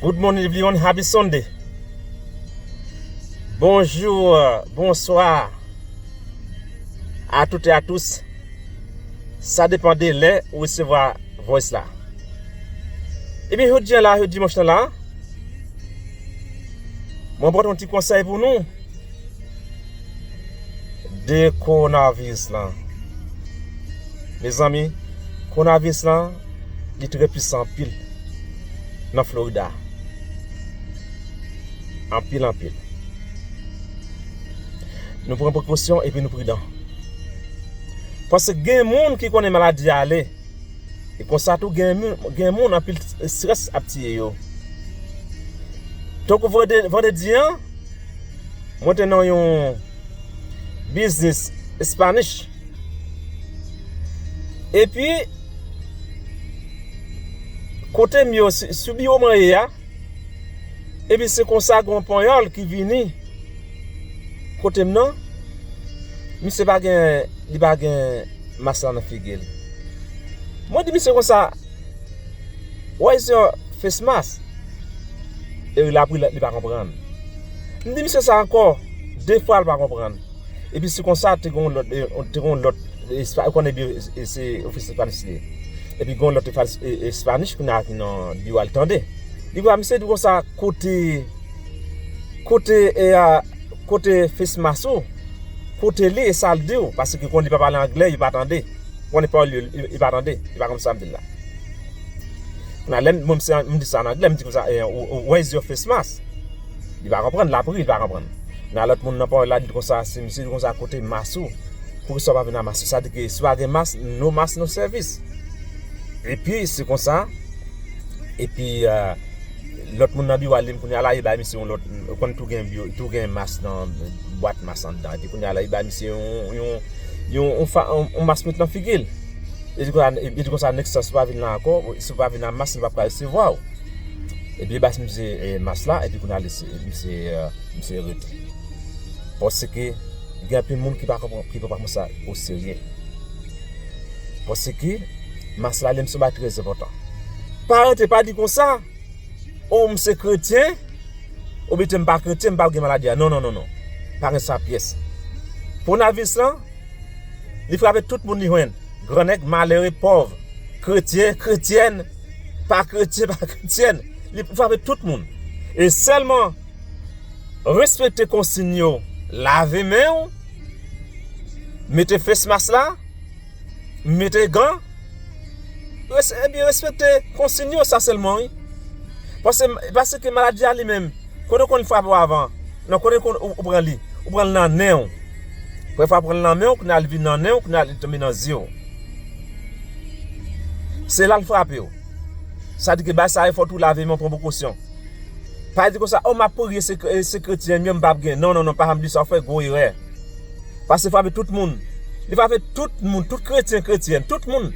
Good morning everyone, happy Sunday Bonjour, bonsoir A tout et a tous Sa depan de lè ou resevwa voice la Ebyen jodi an la, jodi manch nan la Mwen pot yon ti konsèy pou nou De coronavirus lan Mezanmi coronavirus lan li trè pwisan anpil nan Florida Anpil anpil Nou pran prekosyon epi nou pridan Paske gen moun ki konnen maladi a ale E konsa tou gen moun anpil strès ap tiye yo Tankou vandredi an Mwen te nan yon biznis Spanish. E pi, kote m yo, sou biwo mwen ye a, e pi se konsa gen yon panyòl ki vini kote m nan, misye pa gen, li pa gen mas la nan figi l. Mwen di misye konsa. Why is your face mask? E wi la pri li pa konprann. M di misye sa ankò, 2 fwa li pa konprann. E pi se konsa te gen yon lòt, te gen yon lòt, ou konnen byen se ofisè Espayòl li ye. E pi gen yon lòt Espayòl ki nan biwo a li tande. Li wè misye di konsa, kote, kote e a, kote face mask ou? Kote li e sa li di ou? Paske konn li pa pale angle, yo pa tande. Mwen li pawòl yo li pa tande, li pa konn sa m di l la. Kounye a lè m se m di sa an angle m di konsa where is your face mask? Li pa konprann, l ap ri li pa konprann. Kounye a lòt moun nan pawòl la di l konsa si misye di l konsa kote mas ou? Poukisa w pa vin ak mas ou? Sa vle di ke si w pa gen mas, no mas no sèvis. Epi se konsa epi Lot moun nan biwo al dim kounya la li bay misye yon lot ou konn tou gen biwo tou gen mas nan bwat mas andan epi kounya la li bay misye yon yon mas met nan figil li di konsa nèk sa si ou pa vin la anko si ou pa vin a mas m pap ka resevwaw epi li bas misye mas la epi kounya misye rete paske gen anpil moun ki pa pran sa o serye. Mwen se ki mas la lèm se ba trèz epotan pa rete pa di konsa ou m se kretyen ou bete m pa kretyen m pa gen maladi a non non non pa gen sa pyès pou nan vis lan li frape tout moun li jwenn gran nèg malere pòv kretyen kretyèn pa kretyen pa kretyèn li frape tout moun e sèlman respekte konsin yo lave men ou Mete face mask la, mete gan, epi respekte konsiyn yo, sa sèlman wi. Pase ke maladi a li menm, kote konn frape w avan, nan kote konn ou pran li, ou pran l nan nen w. Premye fwa ou pran l nan men w, kounye a li vin nan nen w, kounye a li tonbe nan zye w. Se la l frape w. Sa di ke bay sa e fòt ou lave men w pran prekosyon. Pa di konsa, oh map priye se kretyen m yo m pap gen, non non non pa janm di sa ou fè gwo erè. Pas se frape tout moun. Li frape tout moun, tout kretyen, kretyèn, tout moun.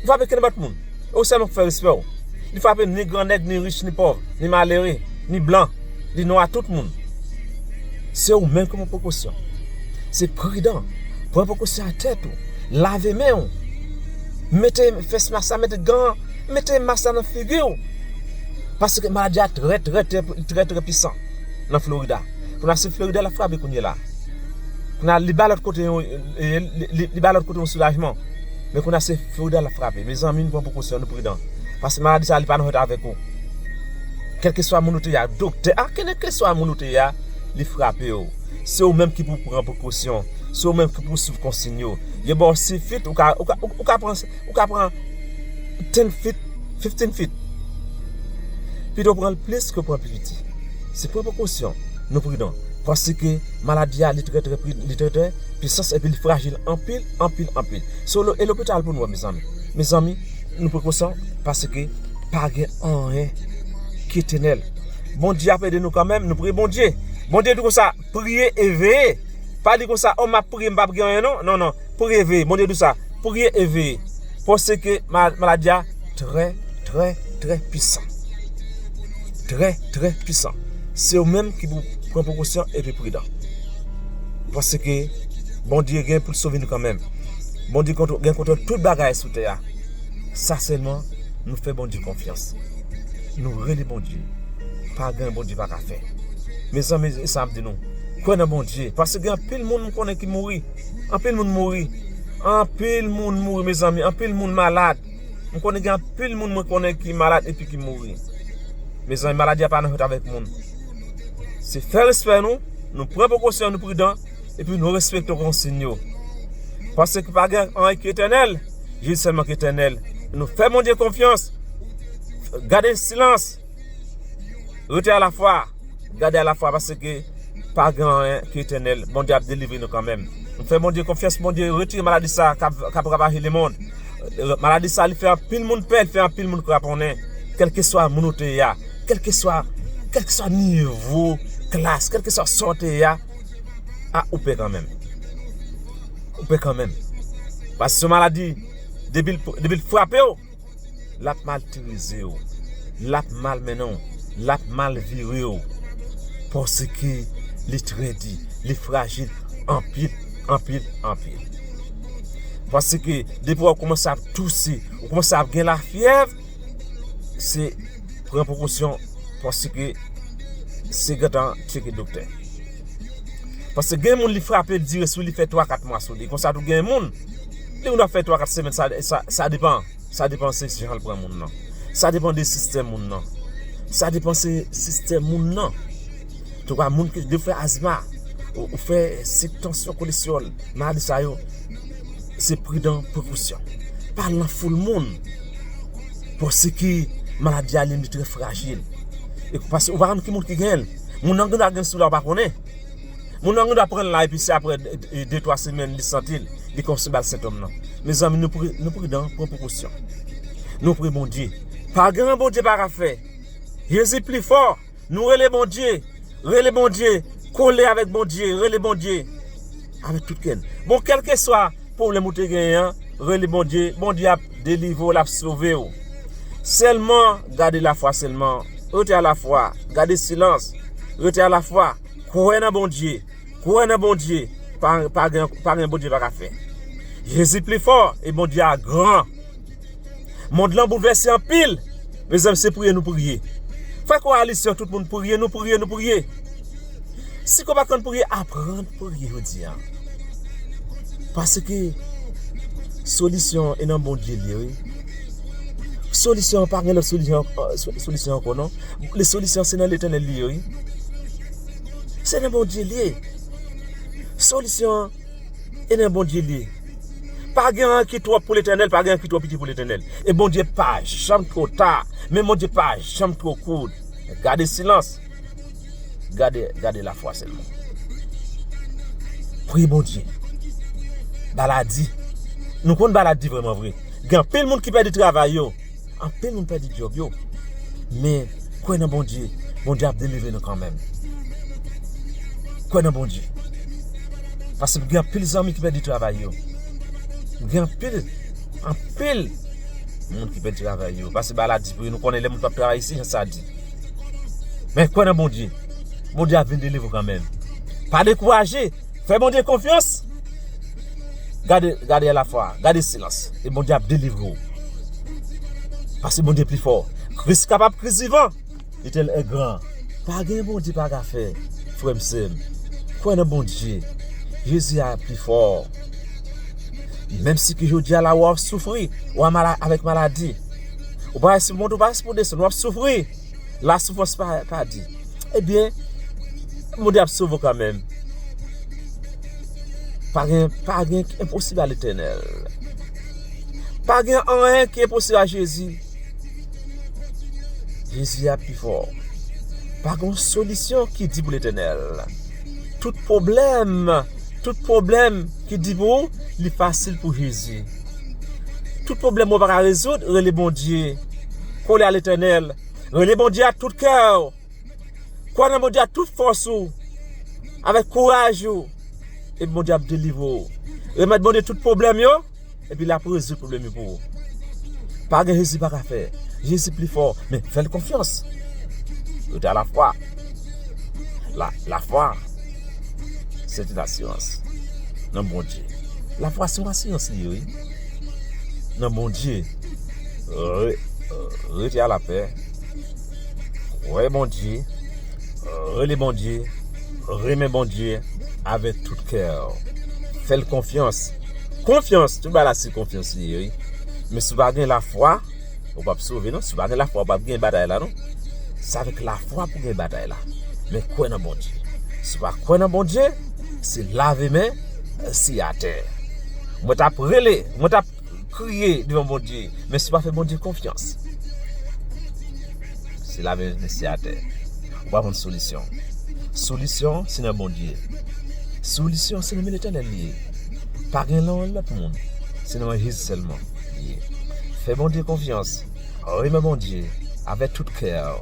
Li frape kenenpòt moun. E ou sèlman pou fè respè ou. Li frape ni gran nèg, ni rich, ni pòv, ni malere, ni blan, ni nwa, tout moun. Se ou menm ki pran prekosyon. Se pridan, pran prekosyon a tèt ou, lave men ou, mete fès mask la, mete gan an. Mete mask la nan figiw. Paske maladi a trè trè trè trè pisan nan Florida. Kounye a se Florida lap frape kounye la. Kounye a li bay lòt kote yon li bay lòt kote yon soulajman. Men kounye a se Florida lap frape. Mezanmi nou pran prekosyon nou pridan. Paske maladi sa li pa nan jwèt avèk ou. Kèlkeswa moun ou te ya, doktè a, kèlkeswa moun ou te ya, li frapew. Se ou menm ki pou pran prekosyon. Se ou menm ki pou swiv konsiy yo. Yo baw sifit ou ka pran ou ka pran Ten feet, fifteen feet. Pito pran plis ke pran pi piti. Se pran prekosyon, nou pridan. Paske maladi a li trè trè pwisans epi li frajil anpil, anpil, anpil. So e lopital pou nou wè mezanmi. Mezanmi, nou prekosyon paske pa gen anyen ki etènèl. Bondye ap ede nou kanmenm, nou priye Bondye. Bondye di konsa, priye e veye. Pa di konsa, o m ap priye m pap gen anyen non. Non, non. Priye veye. Bondye di w sa. Priye e veye. Paske maladi a trè trè trè pisan. Trè trè pisan. Se ou menm ki pou pran prekosyon e pi pridan. Paske Bondye gen pou l sove nou kanmenm. Bondye gen kontwòl tout bagay sou tè a. Sa sèlman nou fè Bondye konfyans. Nou rele Bondye. Pa gen Bondye pa ka fè. Mezanmi e sa m ap di nou. Kwè nan Bondye. Paske gen anpil moun m konnen ki mouri. Anpil moun mouri Anpil moun mouri mezanmi Anpil moun malad M konnen gen anpil moun mwen konnen ki malad epi ki mouri Mezanmi maladi a pa nan jwèt avèk moun Se fè respè nou Nou pran prekosyon nou pridan Epi nou respekte konsiyn yo Pase ki pa gen anyen ki etènèl Jezi sèlman ki etènèl Nou fè Bondye konfyans Gade silans Rete a la fwa, gade a la fwa paske pa gen anyen ki etènèl. Bondye ap delivre nou kanmenm. Nou fè Bondye konfyans pou Bondye retire maladi sa kap ravaje lemond. Maladi sa li fè anpil moun pè, li fè anpil moun kraponnen. Kèlkeswa moun ou te ye a, kèlkeswa nivo klas, kèlkeswa sa w te ye a, a ou pè kanmenm. Ou pè kanmenm. Paske se yon maladi depi l frape w. l ap maltreze w, l ap malmennen w, l ap mal vire w paske li trèdi, li frajil anpil, anpil, anpil. Paske depi wè w koumanse ap touse, w koumanse ap gen lafyèv, se pran prekosyon paske se gentan cheke doktè. Paske gen moun li frape li dire sou li fè 3 4 mwa sou li konsa tou gen moun li moun ap fè 3 4 semèn sa depan sa depan se jan l pran moun nan sa depan de sistèm moun nan sa depan se sistèm moun nan tou ka moun ki fè asma ou fè sik tansyon kolesteròl maladi sa yo se pridan prekousyon pa al nan foul moun paske maladi a li li trè frajil paske ou pa konn ki moun ki gen l. Moun nan gendwa gen sila ou pa konnen. Moun nan gendwa pran la epi se aprè de twa semèn li santi l, li kòmanse ba l sentòm nan. Mezanmi nou pridan, pran prekosyon. Nou priye Bondye. Pa gen anyen Bondye pa ka fè. Jezi pli fò. Nou rele Bondye. Rele Bondye. Kole avèk Bondye. Rele Bondye. Avèk tout kè n. Bon kèlkeswa. Pwoblèm ou te genyen an rele Bondye Bondye ap delivre w lap sove w sèlman gade lafwa sèlman rete a lafwa gade silans rete a lafwa kwè nan Bondye kwè nan Bondye pa gen pa gen Bondye pa ka fè Jezi pli fò e Bondye a gran. Mond lan boulvèse anpil Mezanmi se priye nou priye Frè koalisyon tout moun priye nou priye nou priye Si kò pa konn priye aprann priye jodi a Paske Solisyon e nan Bondye li ye wi Solisyon pa gen lòt solisyon ankò non Le solisyon se nan letenèl li ye wi Se nan Bondye li ye Solisyon E nan Bondye li ye. Pa gen anyen ki twòp pou Letènèl, pa gen anyen ki twò piti pou Letènèl. E Bondye pa janm twò ta, men Bondye pa janm twò kout. Gade silans, gade lafwa sèlman. Priye Bondye. Bala di. Nou konn bala di vreman vre. Gen anpil moun ki pèdi travay yo. Anpil moun pèdi djòb yo men kwè nan Bondye Bondye ap delivre nou kanmenm kwè nan Bondye paske m gen anpil zanmi ki pèdi travay yo m gen anpil anpil moun ki pèdi travay yo paske maladi nou konnen lè moun pap travay se jan sa di men kwè nan Bondye Bondye ap vin delivre ou kanmenm pa dekouraje Fè Bondye konfyans Gade gade a la fwa Gade silans E Bondye ap delivre ou Paske Bondye pi fò Kris kapab kris vivan Letènèl e gran Pa gen Bondye pa ka fè Frèm sèm Kwè nan Bondye Jezi a pi fò Menm si ke jodi a la ou ap soufri Ou a mala avèk maladi Ou pa espou monte ou pa espou desann Ou ap soufri La soufrans pa pa di. Ebyen, moun yo ap sove w kanmenm. Pa gen, pa gen ki enposib a Letènèl. Pa gen anyen ki enposib a Jezi. Jezi a pi fò. Pa gen yon solisyon ki di pou Letènèl. Tout pwoblèm, tout pwoblèm ki di pou ou, li fasil pou Jezi. Tout pwoblèm ou pa ka rezoud, rele Bondye. Kole a Letènèl. Rele Bondye ak tout kè ou. Kwè nan Bondye ak tout fòs ou. Avèk kouraj ou. Epi Bondye ap delivre ou. Remèt Bondye tout pwoblèm yo, epi l ap rezoud pwoblèm yo pou ou. Pa gen Jezi pa ka fè. Jezi pi fò. Men, fè l konfyans. Yo te a lafwa. Lafwa. Se yon asirans nan Bondye. Lafwa se yon asirans li ye wi. Nan Bondye. Rete a la pè. Kwè Bondye. Rele Bondye. Renmen Bondye. Ave tout kè. Fèl konfyans. Konfyans. Tout ba la se konfyans li ye wi. Men si w pa gen lafwa. Ou pap sove non, si pa gen lafwa ou pap gen batay la non Se avèk lafwa pou gen batay la Men kwè nan Bondye Si ou pa kwè nan Bondye Se lave men, si atè Mwen tap rele, mwen tap kriye devan Bondye Men si ou pa fè Bondye konfyans Se lave men, si atè Ou pa konn solisyon Solisyon se nan Bondye Solisyon se nan men Letènèl li ye Pa gen nan lòt moun Se nan men Jezi sèlman ye. Fè Bondye konfyans, renmen Bondye avè tout kè w,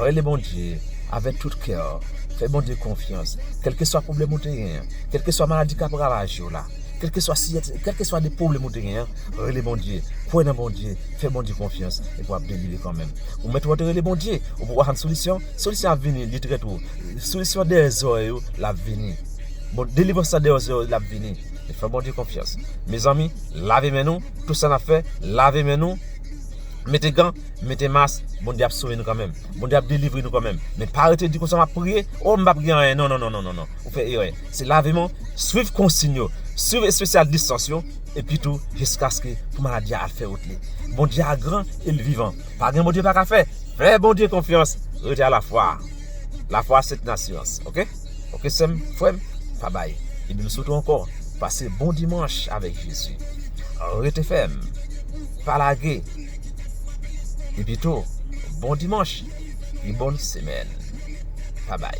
rele Bondye avè tout kè w, fè Bondye konfyans, kèlkeswa pwoblèm ou te gen an, kèlkeswa maladi k ap ravaje w la, kèlkeswa siyati, kèlkeswa de pwoblèm ou te gen an, rele Bondye, kwè nan Bondye, fè Bondye konfyans, epi w ap delivre kanmenm. Ou mèt wè w te rele Bondye, ou poko jann solisyon, solisyon ap vini, li trè two. Solisyon dèyè zòrèy ou, l ap vini. Delivrans lan dèyè zòrèy ou, l ap vini. N fè Bondye konfyans Mezanmi lave men nou Tout sa nap fè lave men nou Mete gan Mete mas Bondye ap sove nou kanmenm Bondye ap delivre nou kanmenm Men pa rete di konsa map priye Oh m pap gen anyen non non non non Ou fè erè Se lave men w Swiv konsiyn yo Swiv espesyal distans yo Epi tou jiskaske pou maladi a al fè wout li Bondye a gran e l vivan Pa gen Bondye pa ka fè Fè Bondye konfyans Rete a lafwa Lafwa se t nasyans Ok. ok sèm frèm pa bay epi m swete w ankò pase bon dimanche avèk jezi rete fèm pa lage epi tou bon dimanche e bòn semèn pa bay